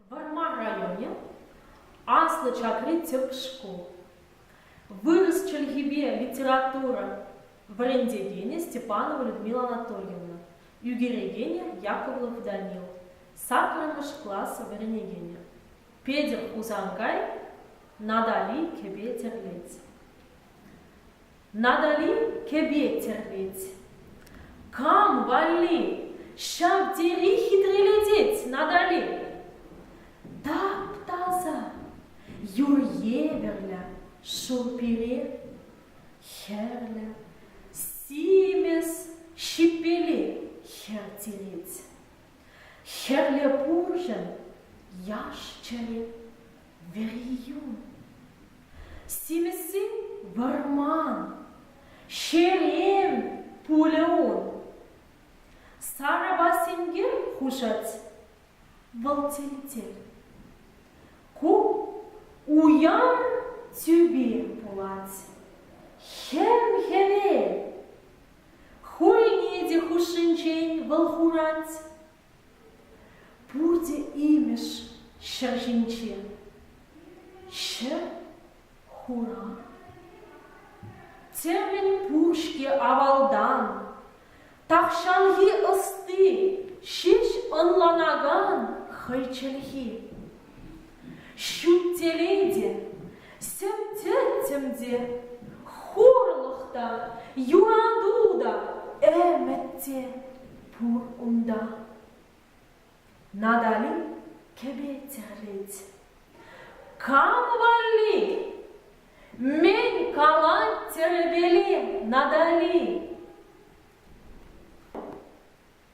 Вӑрмар районӗ, Аслӑ Чакри тӗп шкул. Вырӑс чӗлхипе литература вӗрентекенӗ Степанова Людмила Анатольевна, ӳкерекенӗ Яковлев Данил, саккӑрмӗш класс вӗренекенӗ Петӗр Хусанкай, Натали кӗпе тӗрлет. Надалин кӗпе тӗрлет. Кам валли ҫав тери хитрелетет Надали? Тап-таса, юр евӗрлӗ шыв пире, хӗрлӗ, симӗс, ҫиппеле хӗр тирет. Хӗрлӗ пурҫӑн яш-чӗри, вериюн. Симӗссен вӑрман, ҫерем пулӗ ун. Сарӑпа сенкер хушать вӑл тилтер. Ку уяр тӳпе пулать. Хӗм-хӗвел Хӑйне те хушшинчен вӑл хурать. Пурте имӗш ҫӗр ҫинче. Ҫӗр хура. Тӗмӗн пур-ҫке авалтан. Тахҫанхи ӑсти ҫеҫ ӑнланакан хӑй чӗлхи. Ҫут телей сӗм-тӗттӗм те, хурлӑх та, юрату та, ӗмӗт те пур унта. Натали кӗпе-тӗрет. Кам валли? Мӗн калать тӗрӗпеле Натали?